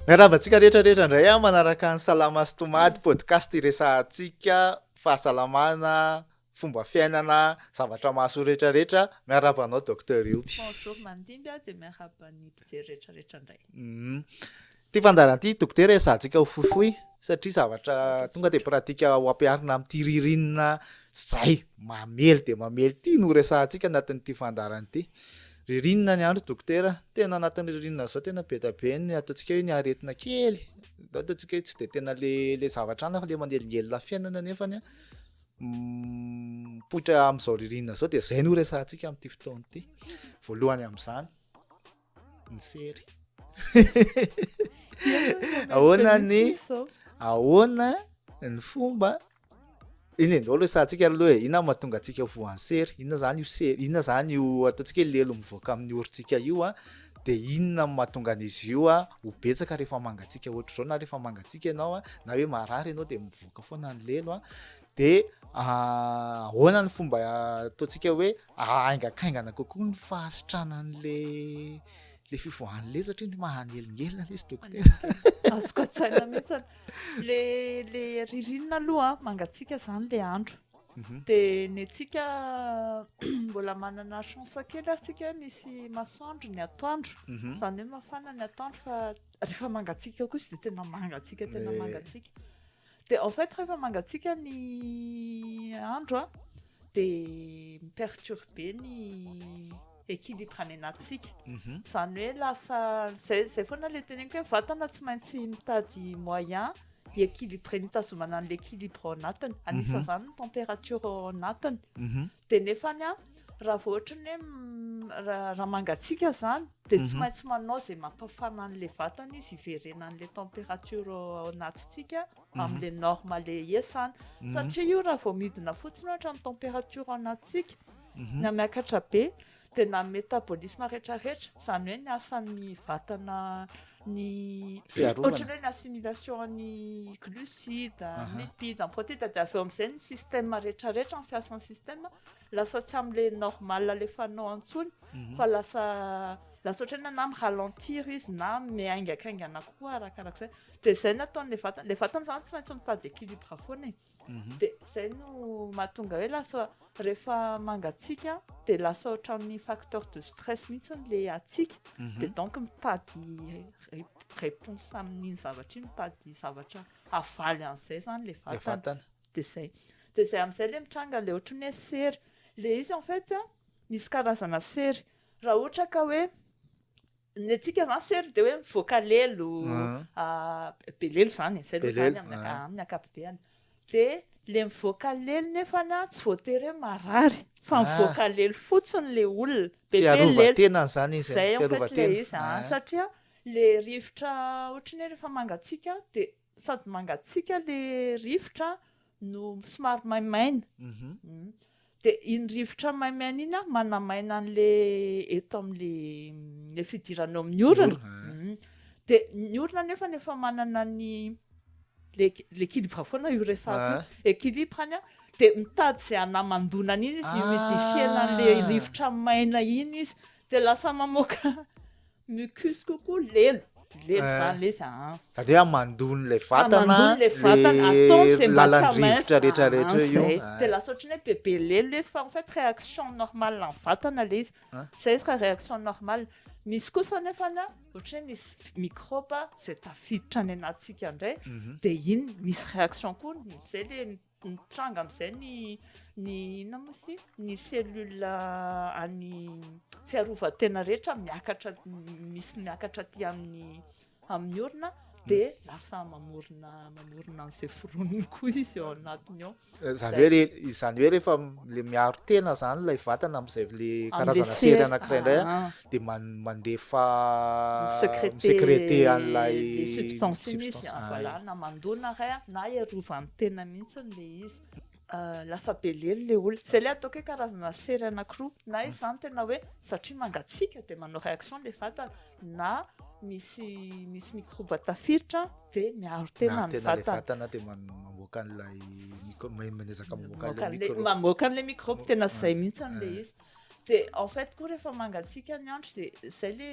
Miarahaba antsika rehetra rehetra indray a ah, manaraka ny salama sy tomady podcast iresahantsika fahasalamana fomba fiainana zavatra mahasoa rehetra rehetra miarahaba anao docteur Ioby bonjour mandimby a ah, de miarahaba ny mpijery rehetra rehetra indray mhm. Ity fandaharana ity dokotera hiasantsika ho fohifohy satria zavatra tonga dia pratika ho ampiharina amin'ity ririnina izay mamely dia mamely ity no horesahantsika anatin'ity fandaharana ity. Ririnina ny andro dokotera, tena anatin'ny ririnina izao tena be dia be ny ataontsika hoe ny aretina kely, ataontsika hoe tsy dia tena le le zavatra anona fa le manelingelina fiainana nefa ny mipoitra amin'izao ririnina izao dia izay no horesahantsika amin'ity fotoana ity. Voalohany amin'izany. ny sery ahoana ny ahoana ny fomba iny e ndao resahantsika aloha e inona mahatonga antsika ho voan'ny sery inona zany io sery inona zany io ataontsika hoe lelo mivoaka amin'ny orintsika io a de inona no mahatonga an'izy io a ho betsaka rehefa mangatsiaka ohatra zao na rehefa mangatsiaka ianao a na hoe marary ianao de mivoaka foana ny lelo a de ahoana ny fomba ataontsika hoe Aingakaingana kokoa ny fahasitrana an'ilay fivoahan'ny lely satria ny maha nelingelina ilay izy dokotera. Azoko an-tsaina mihitsy. Ilay ririnina aloha mangatsiaka izany ilay andro. Mhm. Dia ny antsika mbola manana chance kely ary tsika misy masoandro ny atoandro, mhm. izany hoe mafana ny atoandro fa rehefa mangatsiaka kosa dia tena mangatsiaka tena mangatsiaka. Dia en fait rehefa mangatsiaka ny andro a, dia mi-perturber ny équilibre any anatintsika. Mhm. Izany hoe lasa, izay izay foana ilay teneniko hoe vatana tsy maintsy mitady moyen hi-équilibrer ny hitazomana an'ilay équilibre ao anatiny. Mhm. Anisan'izany ny température ao anatiny. Mhm. Dia nefany an, raha vao ohatra ny hoe ra, raha mangatsiaka izany dia tsy maintsy manao izay mampafana an'ilay vatana izy hiverenan'ilay temperature ao anatintsika amin'ilay norme le iasany. Satria io raha vao midina fotsiny ohatra ny temperature ao anatintsika, na miakatra be, dia na ny métabolisme retraretra, izany hoe ny asan'ny vatana ny ohatran'ny hoe ny assimilation an'ny glucides, ny lipides, ny protides, dia avy eo amin'izay ny système retraretra, ny fiasan'ny système lasa tsy amin'ilay normal alefanao intsony fa lasa lasa ohatran'ny hoe na mi ralentir izy na miaingakaingana kokoa arakarak'izay, dia izay no ataon'ilay vatana, ilay vatana izany tsy maintsy mitady équilibre foana e. dia izay no mahatonga hoe lasa rehefa mangatsiaka dia lasa ohatran'ny facteur de stress mihitsy ilay hatsiaka dia donc mitady réponse amin'iny zavatra iny, mitady zavatra havaly an'izay izany ilay vatana, dia izay, dia izay amin'izay ilay mitranga ilay ohatran'ny hoe sery, ilay izy en fait misy karazana sery, raha ohatra ka hoe Ny antsika izany sery dia hoe mivoaka lelo, be lelo izany e, zay aloha izany amin'ny ankapobeny. Dia ilay mivoaka lelo nefa tsy voatery hoe marary, fa mivoaka lelo fotsiny ilay olona, be dia lelo. Fiarovan-tena izany izy, fiarovan-tena. Satria ilay rivotra ohatran'ny hoe rehefa mangatsiaka dia. Sady mangatsiaka le rivotra no somary maimaina. Dia iny rivotra maimaina iny an, manamaina an'le eto amin'le le fidirana eo amin'ny orana. Dia ny orana anefa efa manana ny le l'équilibre foana io resahako io. Équilibre-ny an, dia mitady izay hanamandona an'iny izy, hi-humidifier-na an'le rivotra maina iny izy. Dia lasa mamoaka mucus kokoa lelo. Lelo Eh. zany lesy a. Zany hoe hamandony ilay vatana, Hamandony le vatana, atao le izay mba tsy lalan-drivotra hamesy. rehetra rehetra Ah, io. zay. Dia lasa ohatran'ny hoe bebe lelo lesy fa en fait réaction normale an'ny vatana le izy. Ah. Zay izy raha réaction normale. Misy kosa anefany a, ohatry hoe misy mikraoba izay tafiditra any anatintsika indray, Mhm. dia iny misy réaction koa, izay le Mitranga amin'izay ny ny inona moa izy ity? Ny cellule an'ny fiarovan-tena rehetra miakatra misy miakatra aty amin'ny amin'ny orona dia lasa mamorona mamorona an'izay foroniny koa izy ao anatiny ao. Izany hoe re- izany hoe rehefa le miaro tena izany ilay vatana amin'izay le Amin'ilay karazana sery sery. anankiray indray Ah, ah. dia mandefa mi-secrete an'ilay substance. Voilà, na mandona re an, na hiarovany tena mihitsy ilay izy. Lasa be lelo ilay olona. Izay ilay ataoko hoe karazana sery anankiroa. Na izy izany tena hoe satria mangatsiaka dia manao réaction ilay vatana, na misy misy mikrôba tafiditra dia miaro tena ny vatana. Miaro tena ilay vatana dia mamoaka an'ilay, miezaka mamoaka an'ilay mikrôba. Mamoaka an'ilay mikrôba, tena izay mihitsy ilay izy. De en fait koa rehefa mangatsiaka ny andro de zay le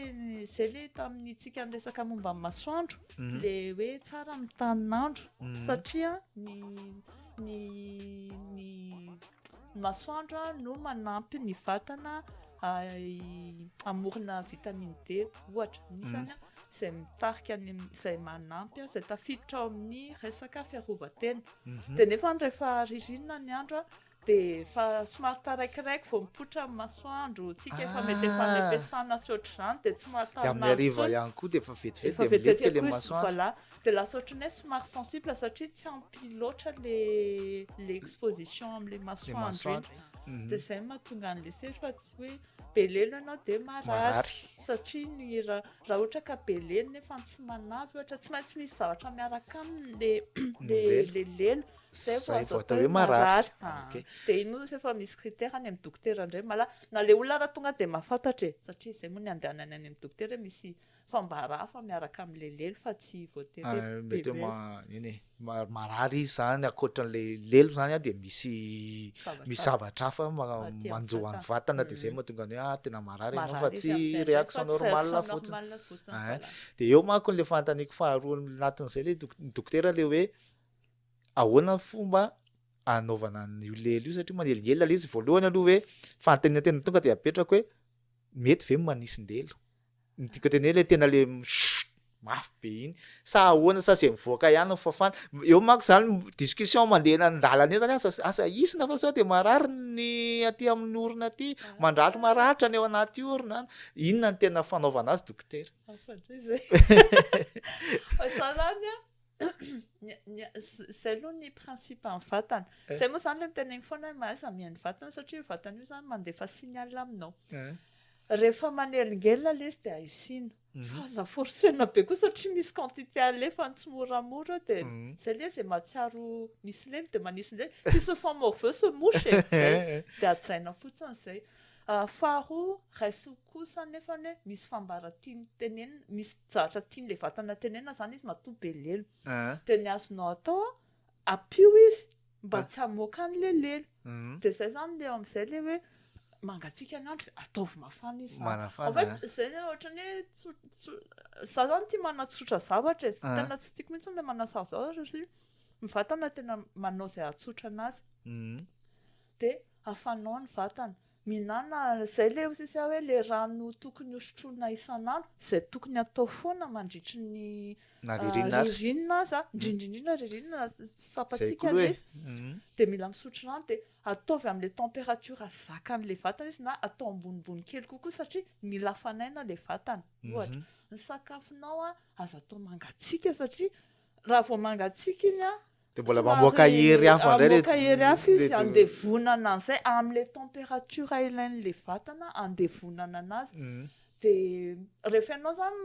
zay le tamin'ny tsika niresaka momba ny masoandro mhm. le hoe tsara ny tanin'andro mhm. satria ny ny ny masoandro no manampy ny vatana amorona vitamine D ohatra nisany mhm. zay mitarika ny zay manampy a zay tafiditra ao amin'ny resaka fiarovatena de nefa rehefa ririnina ny andro a Dia efa somary taraikiraiky vao mipoitra ny masoandro tsika efa mety efa any am-piasana sy ohatr'izany dia tsy mahatanon'andro intsony. Dia amin'ny hariva ihany koa dia efa vetivety dia milefy ilay masoandro. Voilà. Dia lasa ohatrany hoe somary sensible satria tsy ampy loatra ilay exposition amin'ilay masoandro iny. Dia izay no mahatonga an'ilay sery fa tsy hoe be lelo ianao dia marary. Satria ny raha ohatra ka be lelo nefa tsy manavy ohatra, tsy maintsy misy zavatra miaraka aminy ilay lelo. Zay vao azo atao hoe marary. Dia iny moa zany efa misy critère any amin'ny dokotera indray mala na ilay olona ary tonga dia mahafantatra e! satria izay moa no andehanany any amin'ny dokotera hoe misy fambara hafa miaraka amin'ny lelelo fa tsy voatery hoe be be. Mety hoe nini marary izy izany ankoatra an'ilay lelo izany dia misy misy zavatra hafa manjo an'ny vatana dia izay no mahatonga ny hoe ah tena marary ianao fa tsy réaction normale fotsiny. Dia eo manko ilay fanontaniako faharoa anatin'izay ilay dokotera ilay hoe. Ahoana ny fomba anaovana an'io lela io satria manelingelina ilay izy, voalohany aloha hoe fanontaniana tena tonga dia apetrako hoe mety ve ny manisindelo? Ny tiako hateny hoe ilay tena ilay mishh mafy be iny sa ahoana sa izay mivoaka ihany ny fafana? Eo manko izany discussion mandeha eny an-dalana eny izany aza aza hisina fa sao dia marary ny aty amin'ny orona aty, mandraly maratra ny ao anaty orona any. Inona no tena fanaovana azy dokotera? Afa-dray izay. Fa zah izany an! Izay aloha ny principe-n'ny vatana. Izay moa izany ilay niteneniko foana hoe mahaiza mihaino ny vatana satria io vatana io izany mandefa signal aminao. Rehefa manelingelina ilay izy dia haisina. Fa aza forcer-na be koa satria misy quantité alefany tsimoramora eo dia izay ilay izy dia mahatsiaro misy lely dia manisy lely. Qui se sent morveux se mouche e! Izay. Dia hajaina fotsiny izay. Faharoa, raiso kosa anefa ny hoe misy fambara tiany tenenina, misy zatra tian'ilay vatana tenenina zany izy matoa be lelo. Dia ny azonao atao an, ampio izy mba tsy hamoaka an'ilay lelo. Dia izay zany ilay eo amin'izay ilay hoe mangatsiaka ny andro dia ataovy mafana izy zany. En fait izay hoe ohatran'ny hoe tsotra, za zany tia manatsotra zavatra e, tena tsy tiako mihitsy ilay manasaro zavatra satria ny vatana tena manao izay hahatsotra an'azy. Dia afanao ny vatana. Mihinana izay ilay hozy izy hoe ilay rano tokony hosotroina isan'andro, izay tokony hatao foana mandritry ny ririnina aza, indrindra indrindra ririnina, tsapantsika ilay izy, dia mila misotro rano, dia ataovy amin'ilay temperature zakan'ilay vatana izy na atao ambonimbony kely kokoa satria mila hafanaina ilay vatana. Ohatra, ny sakafonao aza atao mangatsiaka satria raha vao mangatsiaka iny an, De mbola mamoaka hery hafa indray le mamoaka hery hafa izy andevonana an'izay am'le température ilain'le vatana andevonana anazy de rehefa ianao zany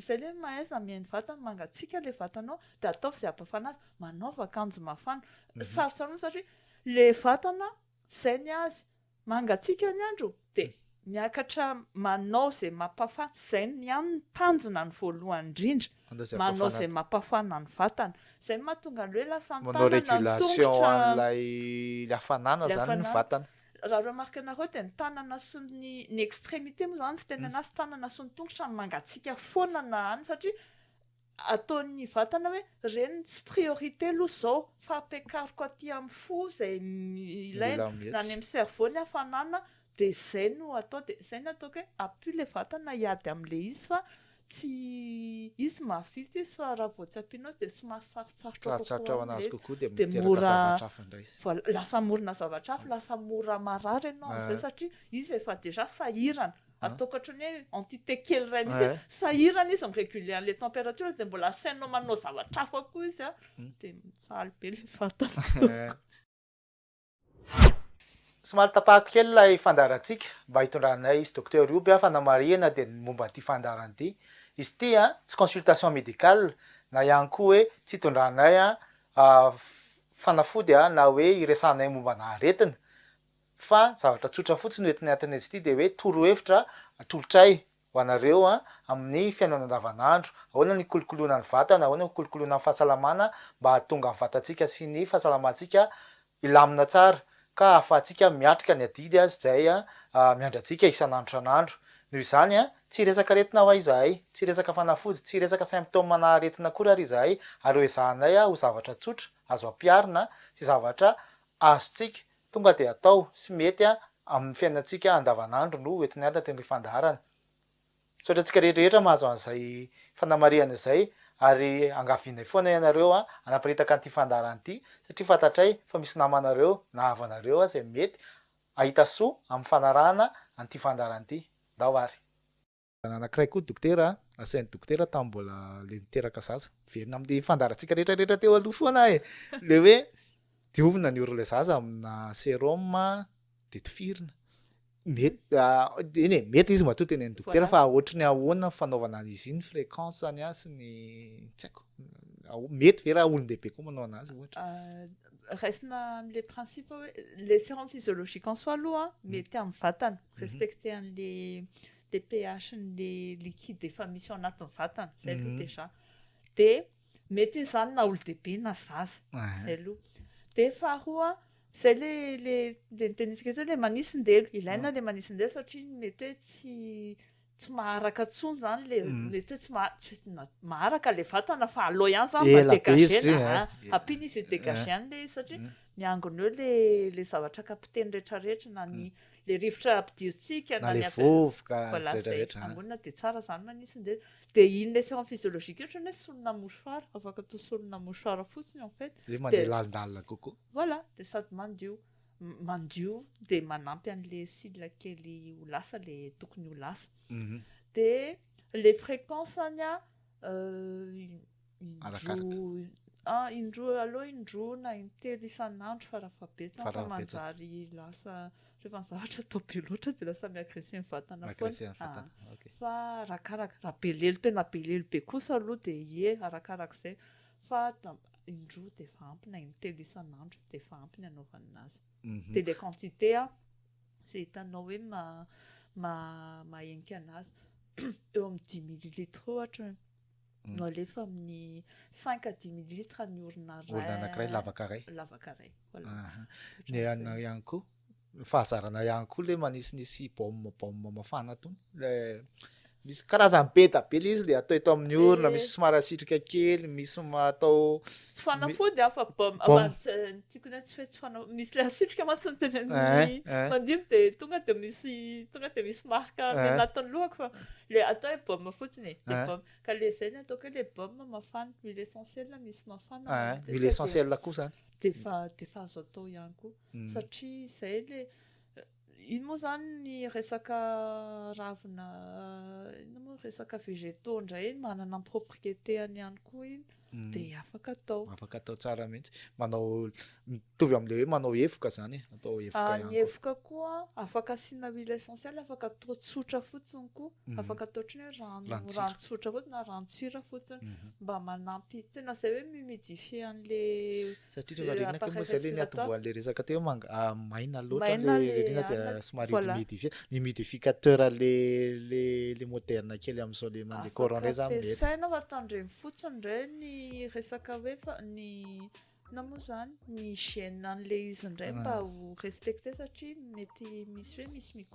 zay le mahaiza mihaino vatana mangatsiaka le vatanao de ataovy izay hampafana azy manaova akanjo mafana sarotsy aminao satria le vatana zay ny azy Mangatsiaka ny andro dia miakatra manao izay mampafaty izay ny aminy tanjona ny voalohany indrindra manao izay mampafana ny vatana izay mahatonga anle lasa ny tanana ny tongotra manao regulation an'ilay ilay hafanana izany ny vatana raha remarque nareo dia ny tanana sy ny ny extremite moa izany ny fitenenana azy tanana sy ny tongotra no mangatsiaka foana na any satria ataon'ny vatana hoe reny no tsy priorité aloha izao fa ampiakariko aty amin'ny fo izay ilaina na any amin'ny cerveau ny hafanana dia izay no atao dia izay no ataoko hoe apio ilay vatana hiady amin'ilay izy fa tsy izy mahavita izy fa raha vao tsy ampianao izy dia somary sarotsarotra kokoa amin'ilay izy dia mora lasa hamorona zavatra hafa lasa mora marary ianao amin'izay satria izy efa déjà sahirana Atao ohatry ny hoe entité kely iray mihitsy hoe sahirana izy mi-reguler an'ilay température dia mbola asainao manao zavatra hafa koa izy dia mijaly be ilay vatana. Somary tapahako kely ilay fandaharantsika mba hitondranay izy Docteur Io be aho fanamarihana dia ny momba an'ity fandaharana ity. Izy ity an, tsy consultation médicale na ihany koa hoe tsy hitondranay fanafody na hoe hiresahanay momba ana aretina. Fa zavatra tsotra fotsiny no entinay an-tanetsy ity dia hoe torohevitra atolotray ho anareo amin'ny fiainana andavanandro, ahoana ny hikolokoloana ny vatana, ahoana ny hikolokoloana ny fahasalamana mba hahatonga ny vatantsika sy ny fahasalamantsika hilamina tsara ka ahafahantsika miatrika ny adidy izay miandry antsika isan'andro isan'andro. Noho izany, tsy hiresaka aretina ho'a izahay, tsy hiresaka fanafody, tsy hiresaka symptômes-na aretina akory ary izahay ary hoezahanay ho zavatra tsotra azo ampiharina sy zavatra azontsika Tonga dia atao sy mety amin'ny fiainantsika andavanandro no ho entiny anaty ny fandaharana. Misaotra antsika rehetra rehetra mahazo an'izay fanamarihana izay ary angavianay foana ianareo hanaparitaka an'ity fandaharana ity satria fantatray fa misy namanareo na havanareo aza izay mety hahita soa amin'ny fanarahana an'ity fandaharana ity. Ndao ary. Zana anakiray koa dokotera a, asainy dokotera tam mbola le niteraka zaza. Miverina am le fandaharantsika rehetra rehetra teo aloha foana e, le hoe diovina ny oron'ilay zaza amina serum a, de tifirina. Mety eny e, mety le izy matoa teneniny dokotera fa ohatry ny ahoana ny fanaovana an'izy iny, fréquence-ny a sy ny tsy haiko, mety ve raha olon-dehibe koa manao anazy ohatra. Raisina am le principe hoe le serum physiologique en soi aloha mety am vatana, respecter an'le dia pH ny liquide efa misy ao anatin'ny vatana, izay aloha déjà, dia mety hoe izany na olon-dehibe na zaza, izay aloha, dia faharoa izay ilay notenenintsika teo hoe ilay manisin-delo, ilaina ilay manisin-delo satria mety hoe tsy tsy maharaka intsony izany ilay, mety hoe tsy maha, maharaka ilay vatana fa aleo ihany izany mba degager-na, ampiana izy hi-degager-na ilay izy satria miangona eo ilay zavatra capter-ny rehetrarehetra na ny le rivotra ampidirintsika na le vovoka retraretra angonina de tsara zany manitsy de de iny le serum physiologique io otrany hoe solona mouchoir afaka atao solona mouchoir fotsiny en fait de mandeha lalindalina kokoa voilà de sady mandio mandio de manampy anle cils kely ho lasa le tokony ho lasa de le frequence any a arakaraka. Ah, indroa, aleo indroa na intelo isan'andro farafahabetsany fa manjary lasa rehefa ny zavatra atao be loatra dia lasa mi-agresser ny vatana foana. Fa arakaraka, raha be lelo tena be lelo be kosa aloha dia ie, arakarak'izay. Fa indroa dia efa ampy na intelo isan'andro dia efa ampy ny anaovana azy. Dia ilay quantité an, izay hitanao hoe maha-henika an'azy, eo amin'ny dix millilitres ohatra. no alefa amin'ny cinq à dix millilitres ny orona iray orona anankiray lavaka iray lavaka iray voilà ny anao ihany koa fahazarana ihany koa le manisinisy baume baume mafana tony le misy karazany be da be le izy le atao eto amin'ny orona misy somary asitrika kely misy atao Tsy fanafody aho fa baume. Baume. Aman- ts- ny tiako indray tsy hoe tsy fanafody. Misy ilay asitrika mantsy ny teny amin'ny Eh, eh. mandibo dia tonga dia misy tonga dia misy marque Eh. amin'ny anatin'ny lohako fa ilay atao hoe baume fotsiny e. Ilay Eh. baume. Ka ilay izay no ataoko hoe ilay baume mafana, huile essentielle misy mafana. Eh, Dia huile dia- essentielle koa izany. Dia efa dia efa azo atao ihany koa. Mm. Satria izay ilay. Ino moa izany ny resaka ravina inona moa resaka végétaux indray iny manana ny propriété-any ihany koa iny dia afaka atao. Afaka atao tsara mihitsy. Manao mitovy amin'ilay hoe manao hevoka izany e, atao hevoka ihany koa. Ny hevoka koa afaka asiana huile essentielle, afaka atao tsotra fotsiny koa, afaka atao ohatran'ny hoe rano rano tsotra fotsiny na ranon-tsira fotsiny mba manampy tena izay hoe mi-humidifier an'ilay Satria rehefa ririnina kay moa izay le niatombohan'ilay resaka teo hoe maina loatra ilay ririnina dia somary humidifier, ny humidificateur le le le moderne kely amin'izao le mandeha courant ireny zany mety. Ampiasaina fa tandremo fotsiny re ny resaka hoe fa ny inona moa izany ny hygiène an'ilay izy indray mba ho respecter satria mety misy hoe misy microbe.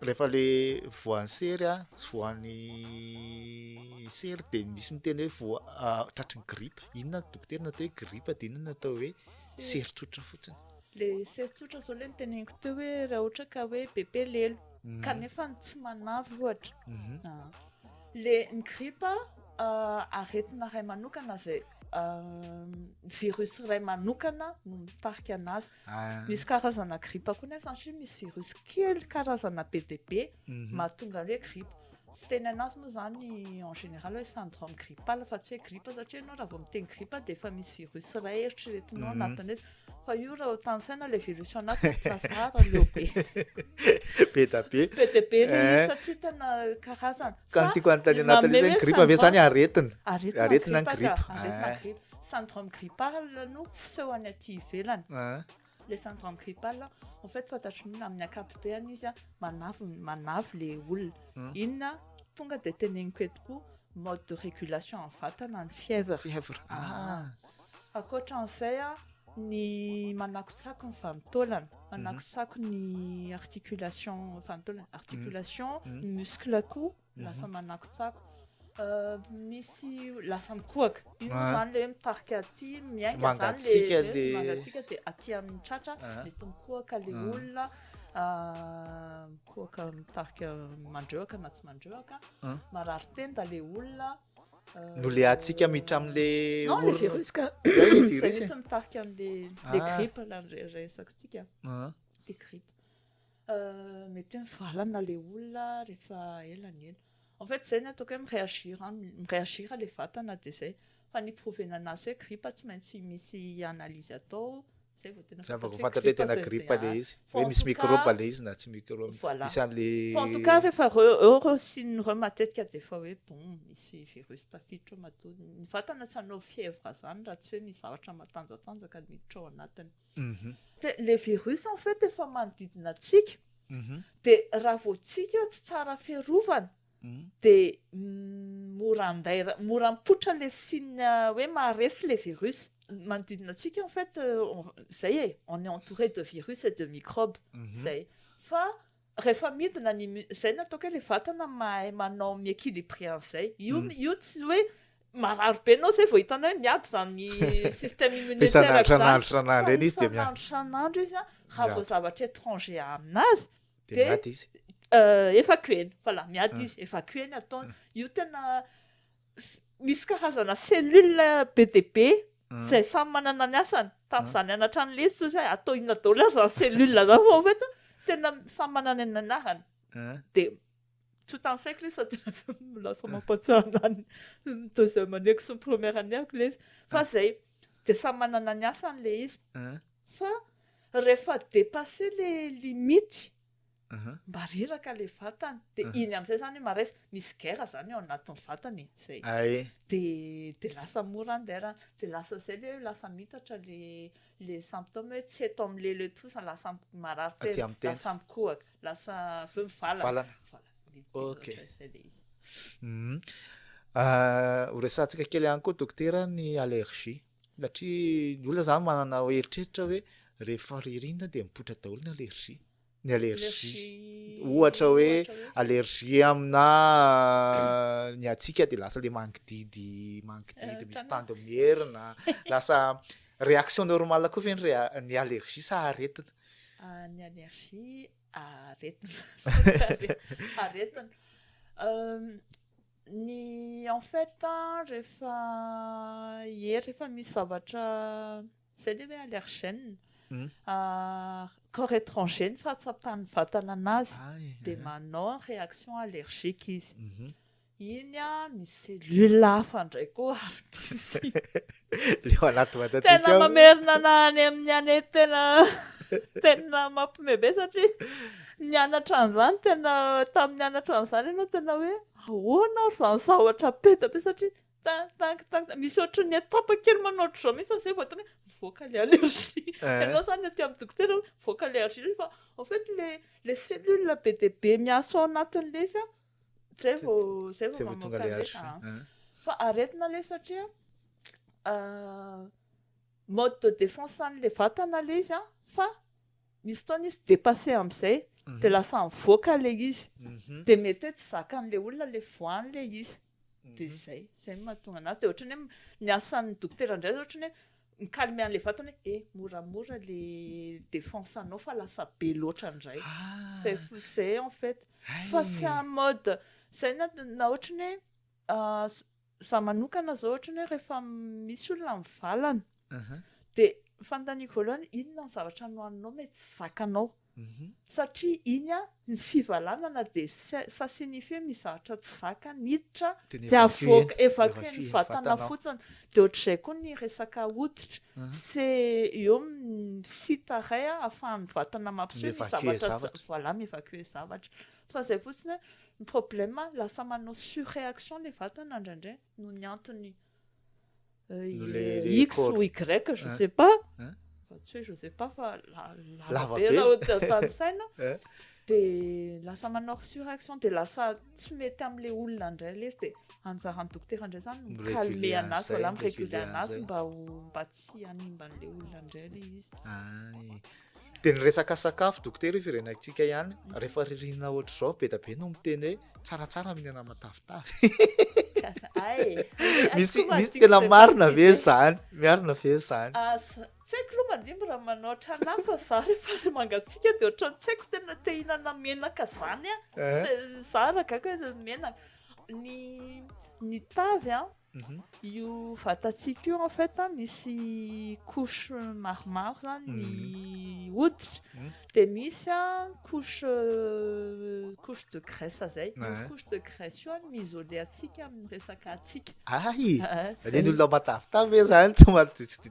Rehefa le voan'ny sery a, voan'ny sery de misy miteny hoe voa- ah, tratry ny gripa. Inona ny dokotera natao hoe gripa de inona ny natao hoe sery tsotra fotsiny. le sery tsotra zao le niteneniko teo hoe raha ohatra ka hoe bebe lelo Mhm. kanefa ny tsy manavy ohatra Mhm. Ah. le ny gripa ah, aretina iray manokana zay ah, virus iray manokana no mitarika anazy Misy karazana gripa koa nefa satria misy virus kely karazana be dia be mahatonga ny hoe gripa. Fiteny an'azy moa izany en général hoe syndrome grippal fa tsy hoe gripa satria ianao raha vao miteny gripa dia efa misy virus iray eritreretinao anatin'ilay izy. Fa io raha hotansaina ilay virus ao anatiny tsy lasa rà raha leo be. Be dia be. Be dia be ilay izy satria tena karazana. Ka ny tiako hanontaniana Nathalie zany gripa ve zany aretina? Aretina ny gripa. Aretina eh. gripa. Syndrome grippal no fisehony aty ivelany. Eh. Le syndrome grippal en fait fantatry ny amin'ny ankapobeny izy manavo manavo le olona. Hmm. Inona tonga dia teneniko eto koa mode de régulation amin'ny vatana ny fièvre. Fièvre. Ah. Ankoatra an'izay ny manakotsako ny vanin-taolana, manakotsako ny articulation vanin-taolana, articulation, ny muscle-ko lasa manakotsako, misy lasa mikohaka, iny moa izany ilay hoe mitarika aty, miainga, mangatsiaka ilay, mangatsiaka dia aty amin'ny tratra mety mikohaka ilay olona, mikohaka mitarika mandrehitra na tsy mandrehitra, marary tenda ilay olona. Nolehantsika miditra amin'le Non, le orona. virus ka. Zay le Zay virus e. mihitsy mitarika an'le le Ah. grippe ilay re- resakintsika. Ah. Le grippe. Euh, mety hoe mivalana le olona rehefa ela ny ela. En fait, zay ny ataoko hoe mi-réagir aminy, mi-réagir le vatana dia zay. Fa ny hi-prouver-na anazy hoe grippe tsy maintsy misy analyse atao. zay vao tena zava vao fantatra hoe tena gripa le izy hoe misy microbe le izy na tsy microbe voilà isan le en tout cas rehefa euro sy ny rhum matetika de fa hoe bon misy virus tafiditra ao matoa ny vatana tsy hanao fièvre zany raha tsy hoe misy zavatra matanjatanjaka miditra ao anatiny mhm. de le virus en fait efa manodidina antsika mhm. de raha vao tsika tsy tsara fiarovana dia mora andaira, mora mipoitra le signe hoe maharesy le virus, manodidina antsika en fait zay e, on est entouré de virus et de microbes zay, fa rehefa midina ny mi, zay no ataoko hoe le vatana mahay manao mi-equilibrer an'izay, io io tsy hoe marary be enao zay vao hitanao hoe miady zany système immunitaire zany, fa isan'andro isan'andro izy dia miady, fa isan'andro isan'andro izy an, raha vao zavatra étranger aminazy, de miady izy euh, efa koeny voilà miady ah. izy efa koeny ataony io tena misy karazana cellule be de be ah. zay samy manana ny asany tamin'izany ah. anatra any lesy zao zay atao inona daholo ary zany cellule zany fa en fait tena samy manana ny anarany de tout en sec lesy fa dia lasa lasa mampahatsiahy anahy ny ny deuxième année-ko sy ny première année-ko lesy fa izay dia samy manana ny asany ilay izy An? fa rehefa dépassé le limite Aha. mba reraka le vatana dia Aha. iny amin'izay izany hoe marais misy guerre izany ao anatin'ny vatana e izay Ay. dia dia lasa mora ny der dia lasa izay ilay hoe lasa mitatra le le symptôme hoe tsy eto amin'ilay le toa sa lasa am- marary Aty tena amin'ny tena. lasa mikohaka Lasa avy eo mivalana. Valana. Ok. Izay dia izy. Mhm. Ah, Horesahantsika kely ihany koa dokotera ny allergie. Satria ny olona zany manana hoe eritreritra hoe rehefa ririnina dia mipoitra daholo ny allergie. Ny allergie. Allergie. Ohatra hoe allergie aminà ah, ny hatsiaka dia lasa le mangididy, mangididy Eh, misy tana. tandiny mierina, lasa réaction normale koa ve ny rea- ny allergie sa aretina? Ny allergie aretina. Aretina. Ny en fait rehefa hery rehefa misy zavatra izay ilay hoe allergène, corps étranger no fahatsapan'ny vatana an'azy dia manao reaction allergique izy. Iny an, misy cellule hafa indray koa ary misy. Leo anaty vatatsika ao. Tena mamerina na any amin'ny année tena tena mampime be satria nianatra an'izany tena tamin'ny nianatra an'izany ianao tena hoe ahoana ary izany zavatra be dia be satria tin tin tin misy ohatry ny étape kely manao ohatry izao mihitsy izay vao tonga hoe mivoaka ilay allergie. Ianao izany aty amin'ny dokotera hoe mivoaka ilay allergie fa en fait ilay ilay cellule be dia be miasa ao anatin'ilay izy an. Zay vao zay vao mamoaka lesy a. Fa aretina le satria mode de défense an'le vatana le izy a fa misy fotoana izy dépasser am'zay mhm. de lasa mivoaka le izy mhm. de mety hoe tsy zakan'le olona le voany le izy mhm. de zay zay mahatonga anazy de ohatrany hoe ny asan'ny dokotera ndray ohatrany hoe Ny calme an'ilay vatana hoe eh moramora ilay défense anao fa lasa be loatra indray. C'est fou c'est en fait. Fa c'est un mode izay na na ohatran'ny hoe za manokana zao ohatran'ny hoe rehefa misy olona mivalana dia ny fanontaniako voalohany inona ny zavatra nohaninao mety tsy zakanao. Satria iny an, ny fivalanana dia sasinife mizatra tsy zaka niditra dia avoaka evacuer ny vatana fotsiny dia ohatr'izay koa ny resaka hoditra se eo amin'ny site iray ahafahan'ny vatana mampiseho ny zavatra tsy voilà mi-evacuer zavatra fa izay fotsiny hoe ny problème lasa manao surreaction ilay vatana indraindray noho ny antony X ou Y, je ne sais pas, fa tsy hoe je ne sais pas fa lava be raha ohatra tanisaina, dia lasa manao resurrection, dia lasa tsy mety amin'ilay olona indray ilay izy, dia anjaran'ny dokotera indray izany ny mi-calmer an'azy, voilà mi-reguler an'azy mba tsy hanimba an'ilay olona indray ilay izy. Dia ny resaka sakafo dokotera io firenantsika ihany rehefa ririnina ohatr'izao be dia be no miteny hoe tsaratsara mihinana matavitavy misy misy tena marina ve zany miarina ve zany ah, tsy haiko loha mandimby raha manao ohatran'ahy fa za rehefa le mangatsiaka dia ohatran'ny tsy haiko tena te hinana menaka zany a eh? za raha gaga menaka ny ny tavy an Io vatantsika io en fait misy couche maromaro zany ny mhm. hoditra mhm. dia misy a couche couche de graisse zay io ah. couche de graisse io no mi-isoler antsika amin'ny resaka hatsiaka ay ah, le olona matavitavy ve zany tsy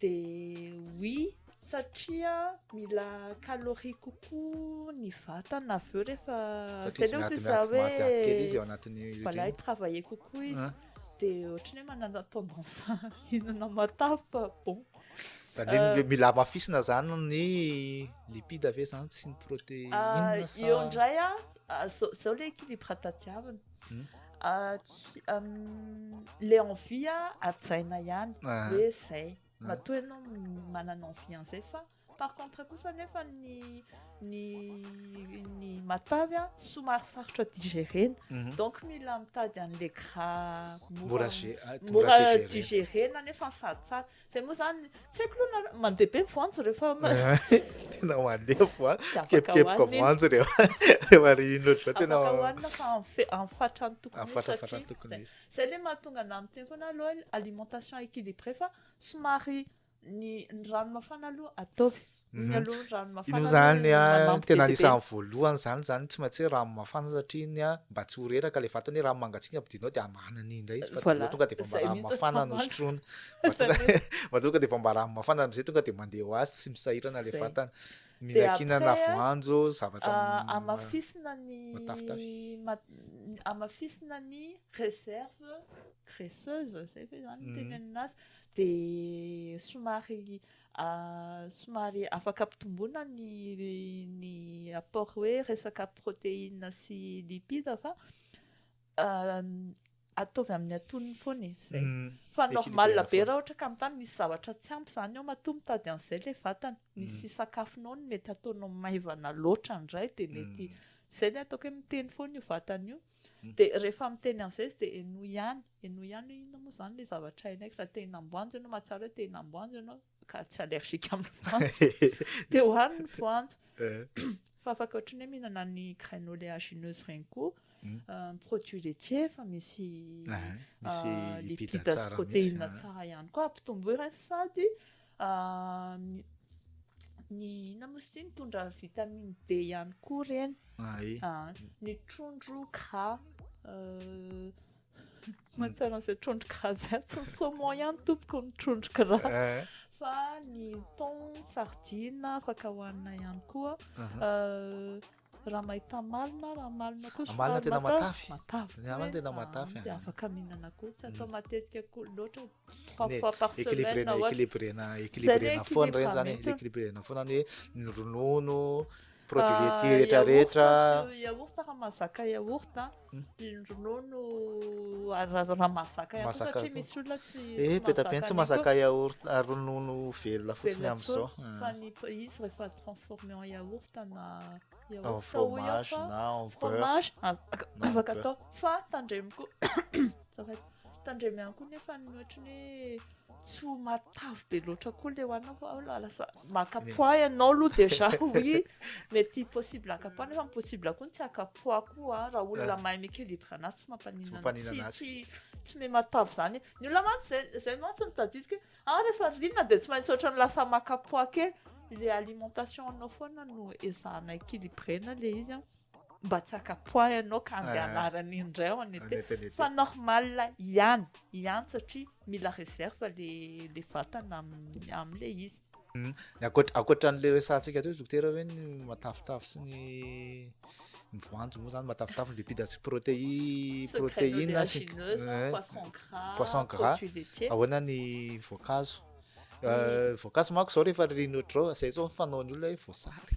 Dia oui, satria mila calorie kokoa ny vatana avy eo rehefa, zay le ohatry ny za hoe, voilà i travailler kokoa izy dia ohatry ny hoe manana tendance hihinana matavy fa bon. Zany hoe mila hamafisina zany ny lipide ve zany sy ny proteine sa. Eo indray an, zao le équilibre tadiavina. Le envie hajaina ihany hoe zay, matoa ianao manana envie an'izay fa par contre kosa nefa ny ny ny matavy an somary sarotra digérena donc mila mitady an'ilay gras mora mora digérena nefa sady tsara. Zay moa zany, tsy haiko aloha nareo, mandeha be ny voanjo rehefa Tena mandeha voanjo, Tsy afaka mikepikepoka hohanina iny. voanjo rehefa rehefa ririnina ohatr'izao tena afaka hohanina fa amin'ny fe- amin'ny fatrany tokony ho izy Amin'ny fatrany satria tokony ho zay. izy. Zay le mahatonga anah miteny foana hoe aloha alimentation équilibrée fa somary ny ny rano mafana aloha ataovy. Iny aloha ny rano mafana. Iny zany a tena anisan'ny voalohany zany zany tsy maintsy hoe rano mafana satria iny a mba tsy ho reraka le vatana hoe rano mangatsiaka ampidirinao de hamana an'iny indray izy fa de tonga de efa mba rano mafana no sotroina mba tonga mba tonga de efa mba rano mafana am'zay tonga de mandeha ho azy tsy misahirana le vatana. Mihinankinana voanjo zavatra hamafisina ny hamafisina ny réserve graisseuse zay ve zany no teny aminazy de somary A, somary afaka ampitomboina ny ny apport hoe resaka protéine sy lipide fa ataovy amin'ny atonony foana e, zay. Fa normal be raha ohatra ka mitady misy zavatra tsy ampy zany ao matoa mitady an'izay le vatana. Misy sakafonao no mety ataonao maivana loatra indray dia mety, zay le ataoko hoe miteny foana io vatana io. Dia rehefa miteny an'izay izy dia henoy ihany, henoy ihany hoe inona moa izany ilay zavatra henoko, raha te-hinam-boanjo ianao, mahatsiaro hoe te-hinam-boanjo ianao ka tsy allergique amin'ny voanjo dia hohano ny voanjo. Fa afaka ohatry ny hoe mihinana ny graines oléagineuses ireny koa, ny produits laitiers efa misy lipides sy protéines tsara ihany koa ampitomboy ireny sady Ny ny inona moa izy ity mitondra vitamine D ihany koa ireny ny trondro gras mahatsiaro an'izay trondro gras izay atsy ny saumon ihany tompoko ny trondro gras fa ny thon, sardine afaka hohanina ihany koa Ramahitamalina, Ramalina koa somary tena matavy. Matavy. Ny Ramalina tena matavy. Dia afaka mihinana koa, tsy atao matetika koa loatra. Trois fois par semaine. Équilibrena, équilibrena, équilibrena foana ireny zany, équilibrena foana ny hoe ny ronono, produits laitiers rehetra rehetra. Yaourt fa mahazaka yaourt. Ronono raha mazaka ihany koa satria misy olona tsy mazaka an'io. Eh, be dia be ny tsy mazaka yaourt, ronono velona fotsiny amin'izao. Fa ny izy rehefa transformer en yaourt na yaourt. En fromage na en beurre. Afaka atao. Fa tandremo koa, tandremo ihany koa nefa ny ohatran'ny hoe. Tsy ho matavy be loatra koa le hoanina fa aho la- lasa maka poids ianao aloha déjà oui mety possible haka poids nefa possible koa ny tsy haka poids koa an, raha olona mahay mi-equilibre anazy tsy mampaninona Tsy mampaninona tsy anazy. tsy tsy me matavy zany e. ny olona mantsy zay zay mantsy no tadidiko hoe ah rehefa ririnina de tsy maintsy ohatrany lasa maka poids kely le alimentation anao foana no ezahana equilibrena le izy an. Mba tsy akapoha ianao ka andeha anarany indray ao any ete fa normal ihany ihany satria mila reserve le le vatana amin'ny amin'ilay izy. Ny ankoatra ankoatra an'ilay resahantsika teo dokotera hoe ny matavitavy sy ny ny voanjo moa zany matavitavy ny lipide sy protéine protéine sy poisson gras poisson gras ahoana ny voankazo voankazo manko zao rehefa ririnina ohatr'izao zay zao ny fanaon'ny olona hoe voasary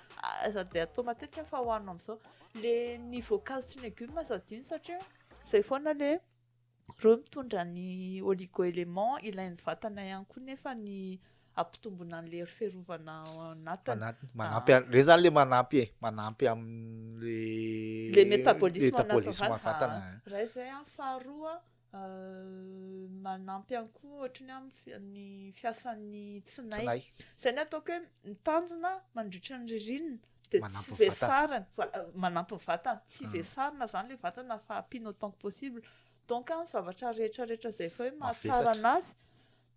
Aza be atao matetika fa hohanina amin'izao. Le ny voankazo sy ny legume aza adino satria izay foana le reo mitondra ny oligo element ilain'ny vatana ihany koa nefa ny hampitomboina an'le hery fiarovana ao anatiny. Anatiny. Manampy an- reny zany le manampy e, manampy amin'ny Le metabolisme metabolisme naturel. vatana. Iray izay an, faharoa manampy ihany koa ohatry ny amin'ny fiasan'ny tsinay. Izay ny ataoko hoe mitandrina mandritra ny ririnina dia tsy vesarina. Voilà, manampy ny vatana. Tsy vesarina izany ilay vatana fa ampiana autant que possible. Donc ny zavatra rehetra rehetra izay efa hoe mahatsara an'azy.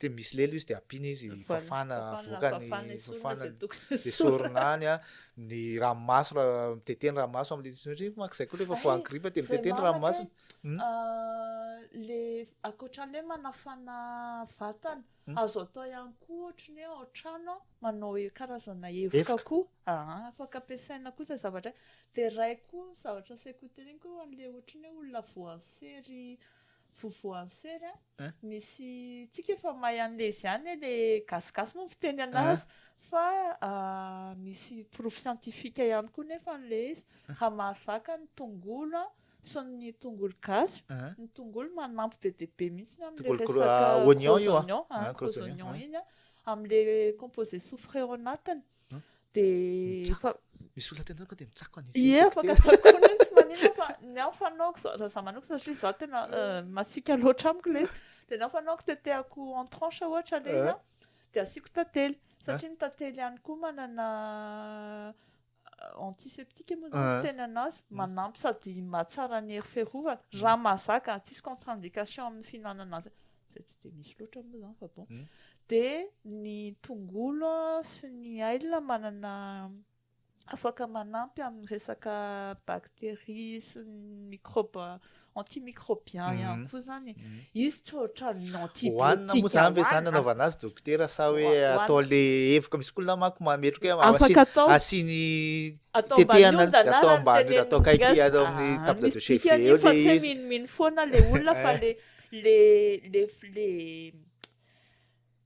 dia misy lelo izy dia ampiana izy fafana avokany fafana dia sorona any a ny ranomaso raha mitete ny ranomaso amin'ilay satria manko izay koa rehefa voan'ny gripa dia mitete ny ranomasony hmm? ah, le ankoatran'ny hoe manafana vatana hmm? azo atao ihany koa ohatry ny hoe ao trano manao e, karazana evoka koa ah, afaka ampiasaina koa izay zavatra dia ray koa zavatra saiko hoteneniko an'ilay ohatry ny hoe olona voansery Vovoantsera misy tsika efa mahay anle izy ihany hoe le gasigasy moa ny fiteny anazy fa misy porofo siantifika ihany koa nefa anle izy raha mahazaka ny tongolo sy ny tongolo gasy ny tongolo manampy be dia be mihitsy amle resaka gros oignon gros oignon iny amle composé soufre ao anatiny dia misy olona tenanako dia mitsako an'izy ie afaka tsakoana iny tsy manina fa ny aho fanaoko za za manoko satria za tena euh, masiaka loatra amiko le dia ny aho fanaoko tetehako en tranche ohatra le ina eh. dia asiako tantely eh. satria ny tantely ihany koa manana euh, antiseptique moa zany eh. tena anazy mm. manampy sady mahatsara ny hery fiarovana raha mm. mahazaka tsisy contre indication amin'ny fihinanana azy izay tsy dia misy loatra moa izany fa bon. Dia ny tongolo sy ny ail manana afaka manampy amin'ny resaka bactéries sy ny microbes antimicrobiens ihany koa izany. Izy tsy ohatran'ny antibiotiques hohanina. Hohanina moa izany ve izany anaovana azy dokotera sa hoe atao le evoka misy olona manko mametroka afaka atao asiany tetehana atao ambany atao kaiky atao amin'ny table de chef eo le izy. Tsy mino mino foana le olona fa le le le le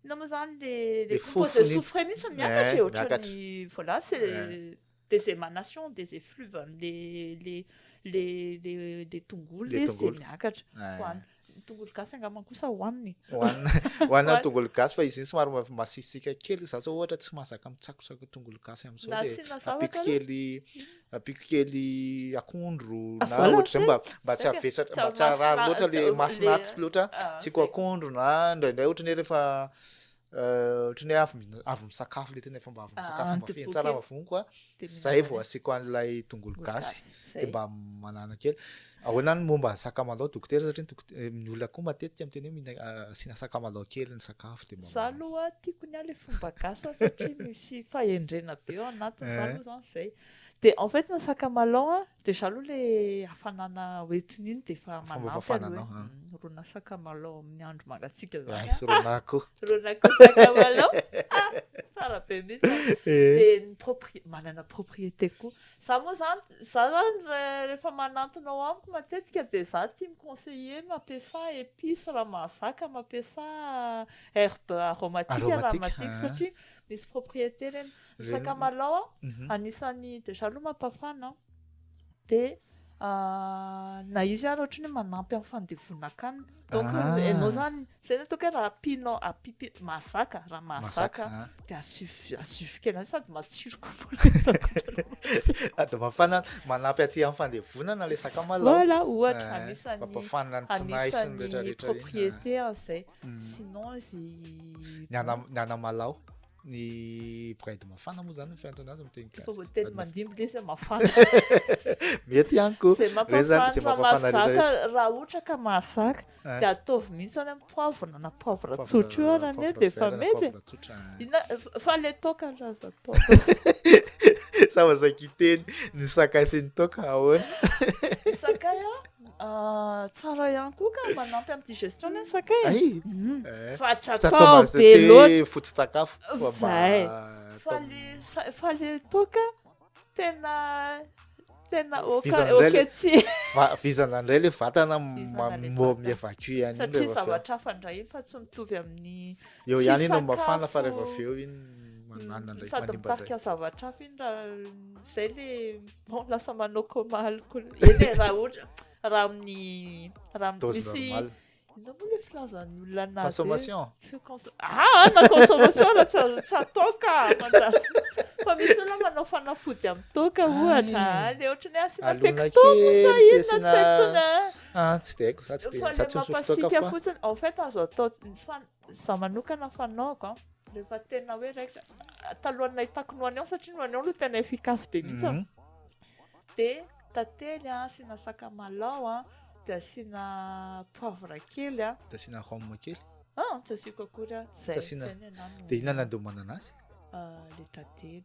inona moa zany le le composé soufre mihitsy miakatra e ohatran'ny voilà c'est des émanations des effluves le le le le le tongolo izy de miakatra hoany tongolo gasy angamba kosa hoaniny hoanina hoanina tongolo gasy fa izy iny somary masisika kely za zao ohatra tsy mahazaka mitsakosako tongolo gasy amin'izao de apiko kely Ampiako kely akondro ah, na ohatr'izay mba mba tsy avesatra mba tsy arary loatra le masinaty loatra ah, tsiko akondro na indraindray ohatrany hoe rehefa euh, ohatrany hoe avy avy misakafo le tena efa mba avy ah, misakafo mba feno tsara mavoniko a zay vao asiako an'ilay tongolo gasy de mba manana kely Ahoana ny momba ny sakamalao dokotera satria ny dokotera ny olona koa matetika miteny hoe mihina asiana sakamalao kely ny sakafo dia mba. Za aloha tiako ny ahy le fomba gasy an satria misy fahendrena be ao anatiny za aloha zany zay de en fait ny sakamalao an de za aloha le hafanana hoentina iny de efa manampy aloha hoe rona sakamalao amin'ny andro mangatsiaka zany an sy rona akoho sy rona akoho sakamalao ah tsara be mintsy de ny propriete manana propriete koa Za moa zany, za zany rehefa manantona ao amiko matetika dia za tia mi-conseiller mampiasà épices raha mahazaka, mampiasà herbes aromatiques raha matiky satria misy propriétés ireny. Ny sakamalaho anisan'ny, déjà aloha mampafana dia. na izy ary ohatry ny hoe manampy amin'ny fandevonan-kanina. Donc ianao izany, izay ny ataoko hoe raha ampianao, ampipi- mahazaka, raha mahazaka Mahazaka, an. dia asio- asio fikena sady matsiro kokoa ilay sakafo. Sady mafana, manampy aty amin'ny fandevonana ilay sakamalao. Voilà, ohatra, Ah, anisan'ny- Mampafanina ny tsinay sy ny rehetra anisan'ny rehetra. propriété an'izay. Mm. Sinon izy Ny ana- ny anamalao. Ny bride mafana moa zany fiantony azy miteny gasy. Fomba teny mandimby le zay mafana. Mety ihany ko. Zay mampafana mahazaka raha ohatra ka mahazaka eh. dia ataovy mihitsy any amin'ny poivre na poivre tsotra io ary anie dia efa mety. Fa le toka aloha aza atao. Sa mazakiteny ny sakay sy ny toka ahoana? Sakay a? Tsara ihany koa ka manampy amin'ny digestion ny sakay. Ay, mhm. eh, fa tsy atao be loatra. Foto-tsakafo. Zay. Fa le fa le toka tena tena oka oka tsy. Vizana indray le vatana mbo mi-evacue ihany. Satria zavatra hafa indray fa tsy mitovy amin'ny Eo ihany iny no mafana fa rehefa avy eo iny manana ndraiky manimba. Sady mitarika zavatra hafa iny raha izay le bon lasa manao coma alcool. Eny raha ohatra raha amin'ny raha misy Inona moa le filazan'ny olona anazy? Consommation. Ah, na consommation raha tsy azo tsy atao ka manjary. Fa misy olona manao fanafody amin'ny toaka ohatra. Le ohatran'ny hoe asiana pecto sa inona tsy haiko intsony. Ah, tsy dia haiko za tsy dia za tsy misotro toaka fa. Fotsiny, en fait azo atao za manokana fanaoko an. Rehefa tena hoe raikitra talohan'ny nahitako ny oignon satria ny oignon no tena efficace be mihitsy. Mhm. Dia tantely an, asiana sakamalao an, dia asiana poivre kely an. Dia asiana rhum kely. Ah, tsy asiako akory an. Tsy asiana. Dia inona no andomanana azy? Ah, le tantely.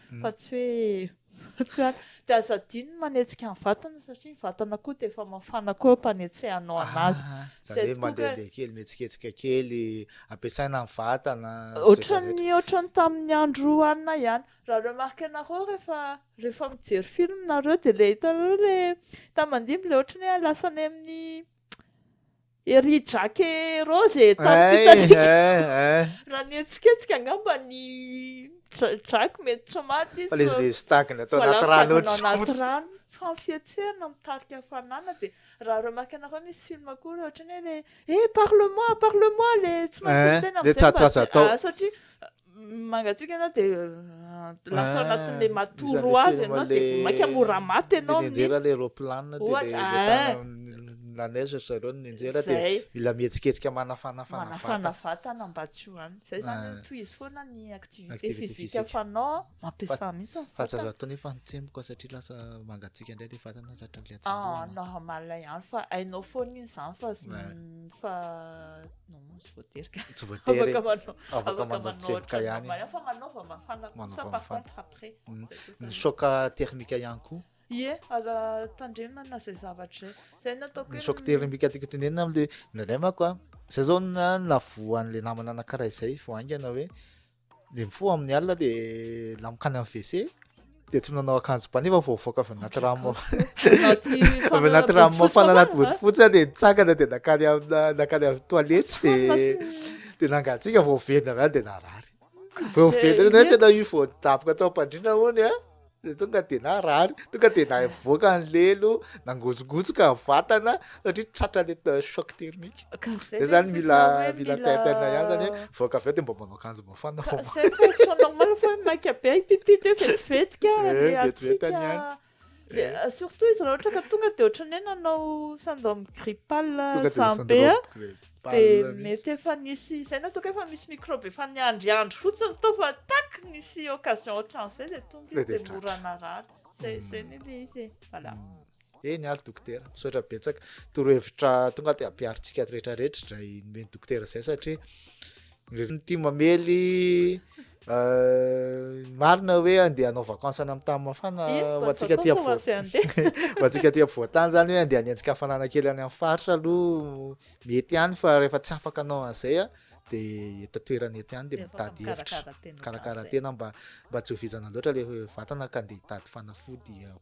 fa tsy hoe fa tsy hoe dia aza adino ny manetsika ny vatana satria ny vatana koa dia efa mafana koa ampanetsehanao anazy ah, izany hoe mandehandeha kely mihetsiketsika kely ampiasaina ny vatana ohatran'ny ohatran'ny tamin'ny andro hanina ihany raha remarque anareo rehefa rehefa mijery film nareo dia ilay hitanareo ilay hitan'ny mandimby ilay ohatran'ny hoe lasa any amin'ny Ery Jack et Rose e, tamin'ny fitarihan'ny raha nihetsiketsika angamba ny Jack mety tsy maty izy fa les les tagny atao anaty rano atao anaty rano fa ny fihetsehana mitarika hafanana dia raha remarque anareo misy film koa le ohatran'ny hoe le eh parle moi parle moi le tsy maintsy miteny amizay mba tsy ah satria mangatsiaka ianao dia lasa ao anatin'ilay matoro azy ianao dia vao mainka mora maty ianao dia nianjera ilay roplanina dia ilay tana la neige ry zareo no nianjera dia mila mihetsiketsika manafanafana vatana manafana vatana mba tsy ho any izay izany no tohizo foana ny activité physique fanao mampiasà mihitsy ny vatana fa tsy azo atao nefa ny tsemboka satria lasa mangatsiaka indray ilay vatana tratran'ny ilay hatsembohana normal ihany fa hainao foana iny izany fa fa non voatery ka tsy voatery afaka manao afaka manao tsemboka ihany fa manaova mafana kosa par contre après mm. ny choc thermique ihany koa ie aza tandremana zay zavatra zay zay nataoko ny choc thermique tiako tenenina amle ndraindray mako a zay zao na navoan'le namana anankiray zay vao haingana hoe dia mifoha amin'ny alina dia lamoka any amin'ny WC dia tsy nanao akanjo ba nefa voavoaka avy anaty rano avy anaty rano mafana anaty bodofotsy dia nitsangana dia nakany nakany amin'ny toilette dia dia nangatsiaka voavendy avy any dia narary voavendy tena io voadaboka tao am-pandriana hono a dia tonga dia narary, tonga dia navoaka ny lelo, nangotsogosoka ny vatana satria tratra le choc thermique. Dia zany mila mila tintin ihany zany hoe voaka avy eo dia mba manao akanjo mafana vao. Zay ny condition normale fa hoe maika be ay pipi dia vetivetika le hatsiaka. Surtout izy raha ohatra ka tonga dia ohatran'ny hoe nanao syndrome grippal zany be a. Dia mety efa nisy izay na toa ka efa misy microbe efa niandry andry fotsiny tao fa tac nisy occasion ohatran'izay dia tonga izy dia mora narary. Zay zay ny le izy. Voilà. Eny ary dokotera, misaotra betsaka. Torohevitra tonga dia ampiharintsika rehetra rehetra izay nomen'ny dokotera izay satria Ny tim mamely marina hoe andeha hanao vacances any amin'ny tany mafana ho antsika aty avo- Vacances hoazy andeha. ho antsika aty ampovoan-tany zany hoe andeha hanenjika hafanana kely any amin'ny faritra aloha mety ihany fa rehefa tsy afaka hanao an'izay a de eto an-toerana eto ihany de Dia ataovy mitady hevitra mikarakara tena mba mba tsy ho vizana loatra le vatana ka andeha hitady fanafody ao.